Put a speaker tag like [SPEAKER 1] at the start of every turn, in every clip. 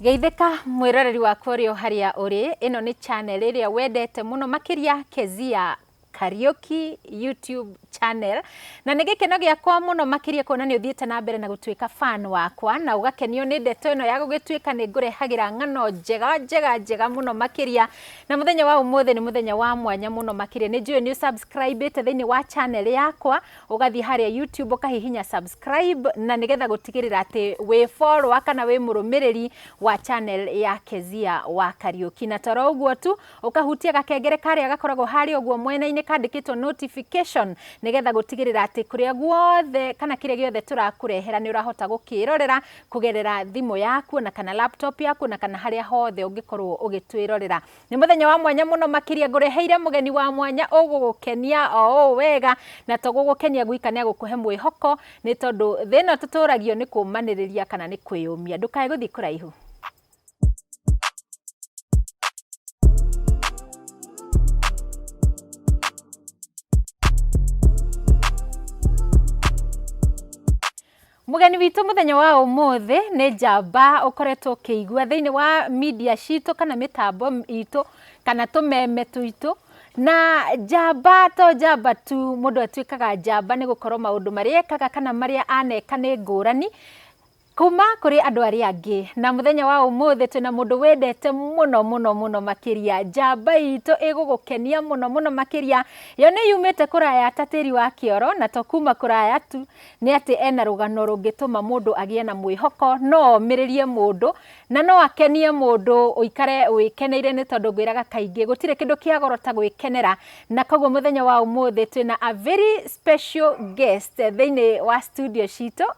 [SPEAKER 1] Geithĩka mwĩroreri wakwa ũrĩa harĩa ũrĩ, ĩno nĩ channel ĩrĩa wendete mũno makĩria Kezia Kariuki YouTube channel na nĩ gĩkeno gĩakwa mũno makĩria kuona nĩ ũthiĩte na mbere na gũtuĩka fan wakwa na ũgakenio nĩ ndeto ĩno ya gũgĩtuĩka nĩ ngũrehagĩra ng'ano njega njega njega mũno makĩria. Na mũthenya wa ũmũthĩ nĩ mũthenya wa mwanya mũno makĩria. Nĩ njũĩ nĩ ũsubscribĩte thĩinĩ wa channel yakwa, ũgathiĩ harĩa YouTube ũkahihinya subscribe na nĩgetha gũtigĩrĩra atĩ wĩ follower kana wĩ mũrũmĩrĩri wa channel ya Kezia wa Kariũki. Na toro ũguo tu, ũkahutia gakengere karĩa gakoragwo harĩa ũguo mwena-inĩ kandĩkĩtwo notification nĩgetha gũtigĩrĩra atĩ kũrĩa guothe kana kĩrĩa gĩothe tũrakũrehera nĩ ũrahota gũkĩrorera kũgerera thimũ yaku na kana laptop yaku na kana harĩa hothe ũngĩkorwo ũgĩtwĩrorera nĩ mũthenya wa mwanya mũno makĩria ngũreheire mũgeni wa mwanya ũgũgũkenia o ũũ wega na to gũgũkenia gwika nĩ agũkũhe mwĩhoko nĩ tondũ thĩ ĩno tũtũragio nĩ kũmanĩrĩria kana nĩ kwĩyũmia ndũkae gũthiĩ kũraihu Mũgeni witũ mũthenya wa ũmũthĩ nĩ njamba ũkoretwo ũkĩigua thĩinĩ wa media citũ kana mĩtambo itũ kana tũmeme tuitũ na njamba to njamba tu mũndũ atuĩkaga njamba nĩ gũkorwo maũndũ marĩa ekaga kana marĩa aneka nĩ ngũrani Kuuma kũrĩ andũ arĩa angĩ. Na mũthenya wa ũmũthĩ twĩna mũndũ wendete mũno mũno mũno makĩria. Njamba itũ ĩgũgũkenia mũno mũno makĩria. Yo nĩ yumĩte kũraya ta tĩri wa kĩoro, na to kuuma kũraya tu, nĩ atĩ ena rũgano rũngĩtũma mũndũ agĩe na mwĩhoko, no omĩrĩrie mũndũ, na no akenie mũndũ ũikare wĩkeneire nĩ tondũ ngwĩraga kaingĩ gũtirĩ kĩndũ kĩa goro ta gwĩkenera. Na koguo mũthenya wa ũmũthĩ twĩna a very special guest thĩinĩ wa studio citũ.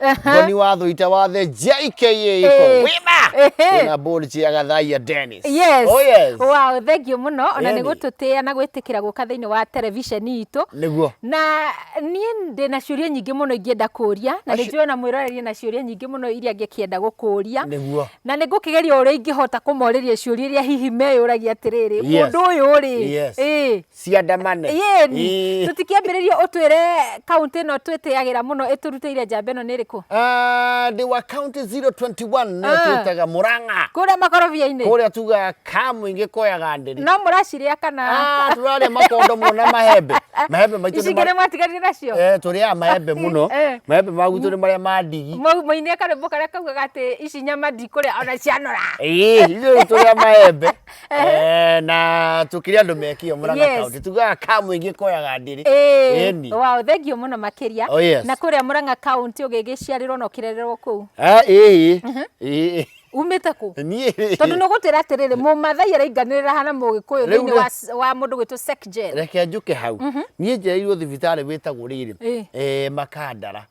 [SPEAKER 2] Aha. Ngoni wa thũita wa the JKA Eh. iko wĩna Ehe. wĩna Bolji ya Gathaiya Dennis. Yes. Oh yes.
[SPEAKER 1] Wow, thank you muno ona nĩ Eni. gũtũtĩa na gwĩtĩkĩra gũka thĩinĩ wa televisheni itũ Nĩguo. na niĩ ndĩ na ciũria nyingĩ mũno ingĩenda kũria na nĩ Aci- njũĩ ona mwĩroreria na ciũria nyingĩ mũno iria ngĩkĩenda gũkũria Nĩguo. na nĩ ngũkĩgeria ũrĩa ingĩhota kũmorĩria ciũria iria hihi meyũragia atĩrĩrĩ Yes. ũndũ ũyũ rĩ Yes. ĩ, ciandamane
[SPEAKER 2] yeni Ii. tũtikĩambĩrĩria
[SPEAKER 1] ũtwĩre kaunti ĩno twĩtĩagĩra mũno ĩtũrutĩire njamba ĩno nĩ ĩrĩkũ Ah, ndĩ wa
[SPEAKER 2] county 021 nĩyo Ah. twĩtaga mũrang'a kũrĩa makorobia-inĩ
[SPEAKER 1] kũrĩa tugaga
[SPEAKER 2] kamũingĩ koyaga ndĩri no mũracirĩa kana
[SPEAKER 1] Ah, tũrarĩa makondo mũno
[SPEAKER 2] na mahembe mahembe maitũ nĩ icingĩ nĩ mara- mwatiganire
[SPEAKER 1] nacio Eh, tũrĩaga mahembe mũno
[SPEAKER 2] Eh. mahembe magutũ nĩ marĩa ma ndigi Mau- mainie karwĩmbo
[SPEAKER 1] karĩa kaugaga atĩ ici nyama ndikũrĩa ona cianora Ĩĩ, ithuĩ tũrĩa
[SPEAKER 2] maembe Eh, na tukiri andu mekio muranga Yes. county tugaga ka muingi koyaga ndiri Ĩĩ. Ĩni. Wow,
[SPEAKER 1] thank you muno makiria Oh, yes. na kuria muranga county ugigiciarirwo na ukirererwo kuu Ah, ĩĩ ĩĩ umite ku niĩ tondu ni gutira atiriri mumathai arainganirira hana mugikuyu Rĩu thiini rĩ- wa s- wa mundu gwitu secjel reke njuke hau
[SPEAKER 2] niä njereirwo thibitarä wä tagwo rä Ĩĩ. rä makandara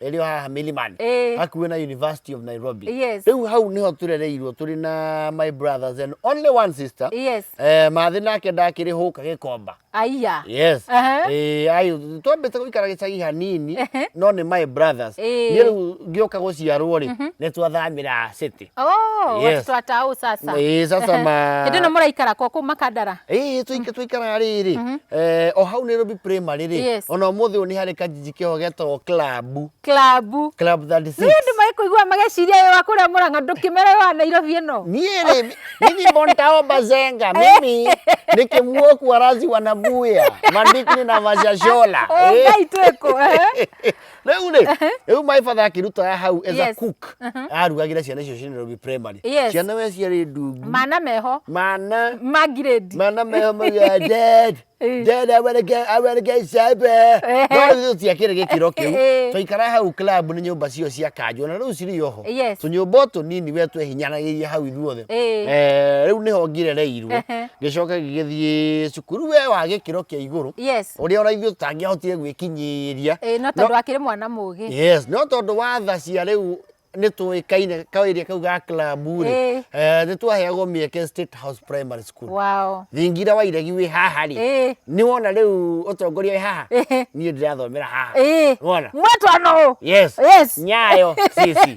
[SPEAKER 2] ĩrĩ o haha Milimani Eh. hakuhĩ na University of Nairobi Yes. rĩu hau nĩho tũrereirwo tũrĩ na my brothers and only one sister Yes. eh, mathĩ nake ndakĩrĩ hũka gĩkomba Aiya. yes
[SPEAKER 1] Aha.
[SPEAKER 2] eh, ayũ twambĩte gũikara gĩcagi hanini no nĩ my brothers Eh. niĩ rĩu ngĩũka gũciarwo rĩ nĩ twathamĩra city Oh, Yes. watoto wa
[SPEAKER 1] tau sasa. Eh, sasa ma
[SPEAKER 2] Hĩndĩ ĩno mũraikara kwa kũu
[SPEAKER 1] makandara. Eh, tuika tuikara
[SPEAKER 2] rĩrĩ eh, o hau Nairobi primary rĩ Yes. ona ũmũthĩ ũyũ nĩ harĩ kanjiji kĩho getagwo club Klabu. club 36 Nĩ andũ magĩkũigua
[SPEAKER 1] mageciria ũyũ wa kũrĩa mũrang'a ndũkĩmera ũyũ wa Nairobi ĩno. niĩ rĩ mimi
[SPEAKER 2] bontao bazenga mimi nikimuoku arazi wanabuya mandikini na mashashola Oh, Ngai twĩkũ.
[SPEAKER 1] eh? rĩu rĩ Ehe.
[SPEAKER 2] rĩu my father akĩruta hau as a Yes. cook Mhm. arugagĩra ciana icio ciĩ Nairobi primary Yes. ciana we ciarĩ ndungu mana meho
[SPEAKER 1] mana mangirĩndi mana meho mauga
[SPEAKER 2] dead Eh. dead I wanna get I wanna get sober Eh. no rĩu tũtiakĩrĩ gĩkĩro kĩu Eh. twaikara hau club nĩ nyũmba cio cia kanjũ na rĩu cirĩ oho Yes. tũnyũmba o tũnini we twehinyanagĩirie hau ithuothe Eh. Eh, rĩu nĩho ngirereirwo Ehe. ngĩcoka gĩgĩthiĩ cukuru we wa gĩkĩro kĩa igũrũ yes ũrĩa ona ithuĩ tũtangĩahotire gwĩkinyĩria Ĩĩ, no tondũ akĩrĩ
[SPEAKER 1] mwana mũgĩ yes no tondũ wa
[SPEAKER 2] tha cia rĩu nĩ tũĩkaine kaĩria kau ga klabu Ĩĩ. rĩ nĩ twaheagwo mĩeke state house primary school wao thingira wa iregi wĩ haha rĩ Ĩĩ. nĩ wona rĩu ũtongoria wĩ haha Ĩĩ. niĩ ndĩrathomera haha Ĩĩ. wona mwetwa nũ
[SPEAKER 1] yes Yes. nyayo
[SPEAKER 2] sisi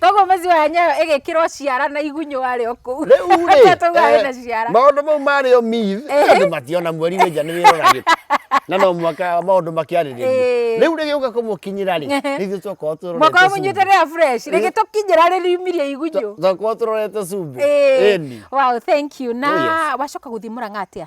[SPEAKER 2] Toguo maziwa ya nyayo
[SPEAKER 1] ĩgĩkĩrwo ciara na igunyũ warĩ o kũu. Rĩu rĩ, Toguo eh, ĩna
[SPEAKER 2] ciara. maũndũ mau marĩ o myth Ehe. andũ mationa mweri wĩ nja nĩ wĩroragĩte na no mwaka maũndũ makĩarĩrĩria Ĩĩ. rĩu rĩgĩũka kũmũkinyĩra rĩ Ehe. rĩu twakorwo twĩrorete Mwaka wa cumbĩ. mũnyuĩte rĩa
[SPEAKER 1] fresh. Rĩngĩ Eh. tũkinyĩra rĩriumirie igunyũ. Twa- twakorwo twĩrorete
[SPEAKER 2] cumbĩ Ĩĩ. Ĩni. Wow, thank you.
[SPEAKER 1] Na Oh, yes. wacoka gũthiĩ mũrang'a atĩa?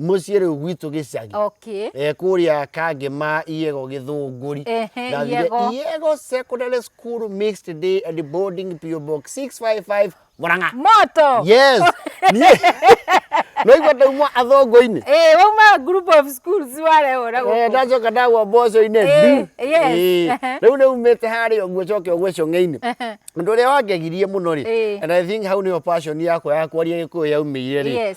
[SPEAKER 2] muciä rä u gwitå gä cagi okay eh, kå rä a kangä ma iego gä thå ngå ri Ehe, Iego. iego secondary school mixed day and boarding PO box 655 murang'a moto yes
[SPEAKER 1] Niĩ-
[SPEAKER 2] no igua ndaumwo athongo-inĩ Eh, wauma group
[SPEAKER 1] of schools warehora Eh, gũkũ ndacoka ndagwa
[SPEAKER 2] mboco-inĩ Eh, du. yes. Eh, Ehe. rĩu rĩu mĩte harĩa ũguo coke ũgwe cong'e-inĩ Ehe. ũndũ ũrĩa wangegirie mũno rĩ Eh. and i think hau nĩho passion yakwa ya kwaria gĩkũyũ yaumĩire rĩ Yes.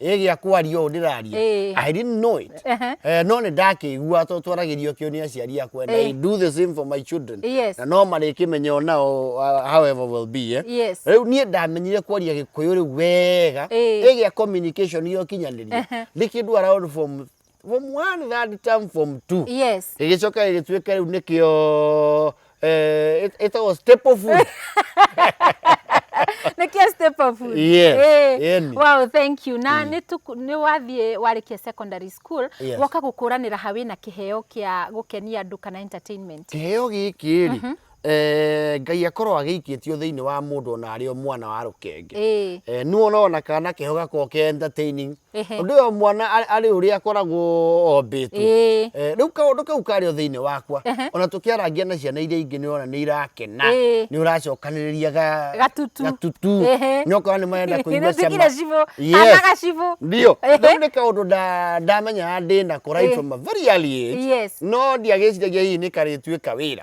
[SPEAKER 2] ĩ gĩa kwaria ũũ ndĩraria Ĩĩ. i didn't know it Ehe. Eh, no nĩ ndakĩigua to twaragĩrio kĩo nĩ aciari akwa and i Ĩĩ. do the same for my children Yes. na no marĩkĩmenya o nao uh, however will be eh? Yes. rĩu niĩ ndamenyire kwaria gĩkũyũ rĩu wega Ĩĩ. ĩ gĩa communication yo kinyanĩria Ehe. ndĩ kĩndũ around form form one third term form two yes ĩgĩcoka ĩgĩtuĩka rĩu nĩkĩo eh, ĩt- ĩtagwo staple food
[SPEAKER 1] nĩkĩo step of food Yes, Eh, yani. wow thank you na nĩ tuku- nĩ wathiĩ warĩkia secondary school Yes. woka gũkũranĩra ha wĩna kĩheo kĩa gũkenia andũ kana entertainment kĩheo gĩkĩ
[SPEAKER 2] rĩ Eh, ngai akorwo agĩikĩtio thĩinĩ wa mũndũ ona arĩ o mwana wa rũkenge Ĩĩ. Eh, nĩ wona ona kana keho gakorwo ke entertaining Ehe. ũndũ ũyũ mwana arĩ- arĩ ũrĩa akoragwo ombĩtwo Ĩĩ. Eh, rĩu kaũndũ kau karĩ o thĩinĩ wakwa Ehe. ona tũkĩarangia na ciana iria ingĩ nĩ wona nĩ irakena Ĩĩ. nĩ ũracokanĩrĩria ga- Gatutu. gatutu Ehe. nĩ okorwo nĩ marenda kũigua Nĩtwĩkire cibũ, Yes. kana
[SPEAKER 1] gacibũ. ndio Ehe.
[SPEAKER 2] rĩu nĩ kaũndũ nda- ndamenyaga ndĩna kå right Ĩĩ. from a very early age Yes. no ndiagĩciragia hihi nĩ karĩtuĩka wĩra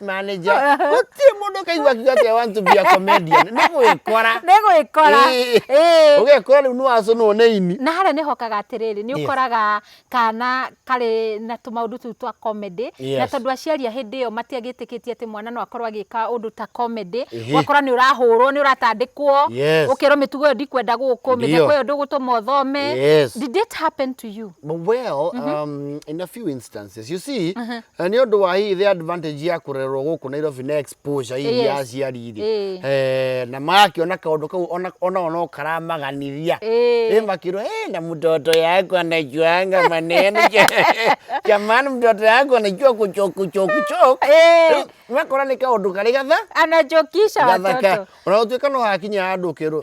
[SPEAKER 2] manager Eh. gũtirĩ mũndũ ũkaigua akiuga atĩ I want to be a comedian nĩ gwĩkora nĩ
[SPEAKER 1] gwĩkora Ĩĩ. Ĩĩ. ũgekora
[SPEAKER 2] rĩu nĩ wacũnwo nĩ ini na harĩa nĩ hokaga atĩrĩrĩ
[SPEAKER 1] nĩ Yes. ũkoraga kana karĩ na tũmaũndũ tũu twa comedy na Yes. tondũ aciari a hĩndĩ ĩyo matiagĩtĩkĩtie atĩ mwana no akorwo agĩka ũndũ ta comedy Ĩhĩ. ũgakora nĩ ũrahũrwo nĩ ũratandĩkwo Yes. ũkerwo mĩtugo ĩyo ndikwenda gũkũ Ndio. mĩtheko ĩyo ndũgũtũma ũthome Yes. did it happen to you But well, um,
[SPEAKER 2] in a few instances, you see, Na nĩ ũndũ wa hihi the advantage ya kũrererwo gũkũ Nairobi na exposure hihi Yes. ya aciari rĩ Ĩĩ. eh, na magakĩona kaũndũ kau ona- onao no karamaganiria Ĩĩ. Ĩ makĩrwo "Eh, na mtoto yako anajuanga maneno jamani mtoto yako anajua kuchokuchokuchok Ĩĩ. makona nĩ kaũndũ karĩ gatha anachokisha
[SPEAKER 1] gathaka watoto ona gũtuĩka no hakinya
[SPEAKER 2] handũ ũkerwo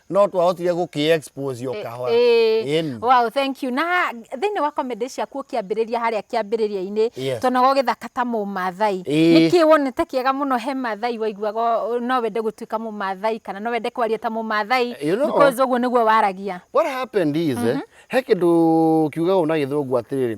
[SPEAKER 2] no twahotire gå kä expose o kahora Ĩĩ. Ĩni. Wow,
[SPEAKER 1] thank you na thĩinĩ wa comedy ciaku ũkĩambĩrĩria harĩa kĩambĩrĩria-inĩ Yes. tonaga ũgĩthaka ta mũmathai Ĩĩ. nĩkĩ wonete kĩega mũno he mathai waiguaga o- no wende gũtuĩka mũmathai kana no wende kwaria ta mũmathai You know- because ũguo nĩguo waragia what happened is
[SPEAKER 2] eh, he kä ndå kiugaga na gä thå ngu atä rä rä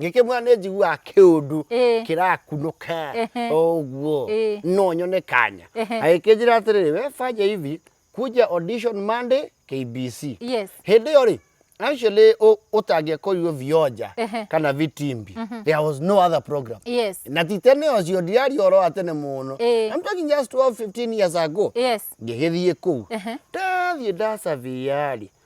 [SPEAKER 2] ngĩkĩmwĩra nĩ njiguaga kĩũndũ Ĩĩ. kĩrakunũka Ehe. o ũguo Ĩĩ. no nyone kanya Ehe. agĩkĩnjĩra atĩrĩrĩ we fanya hivi kuja audition Monday KBC Yes. hĩndĩ ĩyo rĩ actually ũ- ũtangĩakorirwo vioja Ehe. kana vitimbi there was no other program Yes. na ti tene ũcio ndiaria ũhoro wa tene mũno Ĩĩ. I'm talking just 12 15 years ago Yes. ngĩgĩthiĩ kũu Ehe. ndathiĩ ndacavia rĩ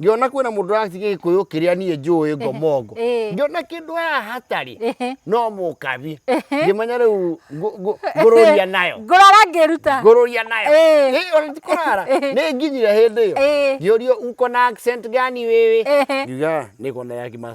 [SPEAKER 2] ngĩona kwĩna mũndũ ũratiga gĩkũyũ kĩrĩa niĩ njũĩ ngomongo Ĩhĩ. ngĩona kĩndũ haha hatarĩ Ĩhĩ. no mũkabi ngĩmenya rĩu ngũ- ngũ- ngũrũria nayo ngũrara ngĩruta ngũrũria nayo Ĩĩ. Ĩĩ, ona ti kũrara Ĩĩ. nĩ nginyire hĩndĩ ĩyo Ĩĩ. ngĩũrio uko na accent gani wewe Ĩhĩ. ngiuga niko na ya kima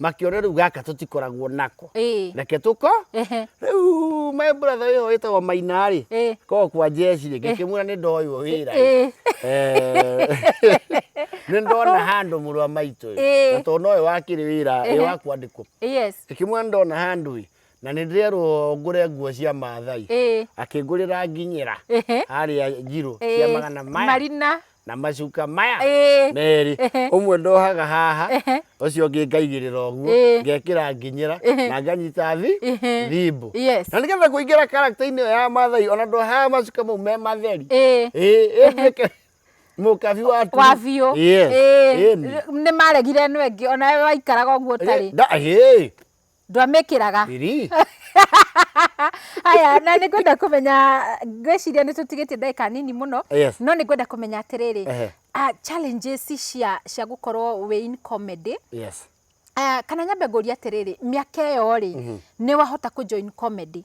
[SPEAKER 2] makĩone rĩu gaka tũtikoragwo nako Ĩĩ. reke tũko Ehe. rĩu my brother wĩho wĩtagwo maina rĩ Ĩĩ. ko kwa jeshi rĩ ngĩkĩmwĩra nĩ ndoywo wĩra rĩ. Ĩĩ. Eh, nĩ ndona handũ mũrũ wa maitũ Ĩĩ. ĩ na tondũ nowe wakĩrĩ wĩra ĩ Ehe. wa kwandĩkwo Yes. ngĩkĩmwĩra nĩ ndona handũ ĩ Na nĩ ndĩrerwo ngũre nguo cia Maathai. Ĩĩ. Akĩngũrĩra nginyĩra Ehe. harĩa njirũ Ĩĩ. cia magana maya Marina. na
[SPEAKER 1] macuka
[SPEAKER 2] maya Ĩĩ. merĩ. Ehe. Ũmwe ndohaga haha, Ehe. ũcio ũngĩ ngaigĩrĩra ũguo, Ĩĩ. ngekĩra nginyĩra Ehe. na nganyita thi Ehe. thimbũ. Yes. Na nĩgetha kũingĩra character-inĩ ĩyo ya Maathai, ona ndohaga macuka mau me matheri. Ĩĩ. Ĩĩ, ĩnduĩke mũkabi wa turu. wa biũ Yes.
[SPEAKER 1] Ĩĩ. Ĩni. nĩ maregire ĩno ĩngĩ ona we waikaraga ũguo ũtarĩ Nda- ĩĩ. ndwamĩkĩraga Iri. haya na nĩ ngwenda kũmenya ngwĩciria nĩ tũtigĩtie ndagĩka nini mũno Yes. no nĩ ngwenda kũmenya atĩrĩrĩ Ehe. ah, challenges cia cia gũkorwo wĩ in comedy yes Ah, kana nyambe ngũria atĩrĩrĩ mĩaka ĩyo rĩ nĩ wahota kũ join comedy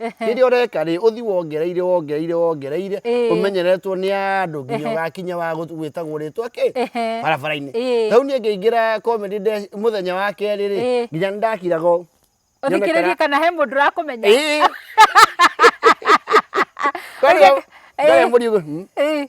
[SPEAKER 2] rĩrĩa ũreka rĩ ũthi wongereire wongereire wongereire Ĩĩ. ũmenyeretwo nĩ andũ nginya Ehe. ũgakinya wa gũ- gwĩtagwo rĩtwa kĩ Ehe. barabara-inĩ Ĩĩ. tau niĩ ngĩingĩra comedy nde- mũthenya wa kerĩ rĩ Ĩĩ. nginya nĩ ndakiraga ũũ. ũthikĩrĩrie Nyonekana-
[SPEAKER 1] kana he mũndũ ũrakũmenya Ĩĩ. Kwarĩ Ũgeka- o- ndarĩ Ĩĩ. mũrigo, hmm. Ĩĩ.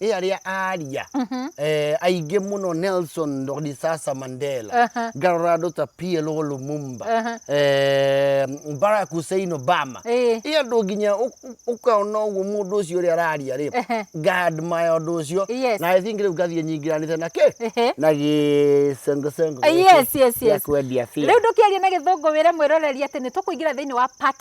[SPEAKER 2] ĩya rĩa aaria Mhm. eh, aingĩ mũno nelson rodisasa mandela Aha. ngarora andũ ta plo lumumba Aha. eh, barack hussein obama Ĩĩ. ĩ andũ nginya ũ- ũ- ũkaona ũguo mũndũ ũcio ũrĩa araria rĩ Ehe. ngaadmaya ũndũ ũcio Yes. na i think rĩu ngathiĩ nyingĩranĩte na kĩ Ehe. na gĩcengocengũ Ah, yes, yes,
[SPEAKER 1] yes. kwendia rä u
[SPEAKER 2] ndå kä aria na gä thå ngå
[SPEAKER 1] wä re mwä roreri atä nä tå kå ingä ra thä inä wa part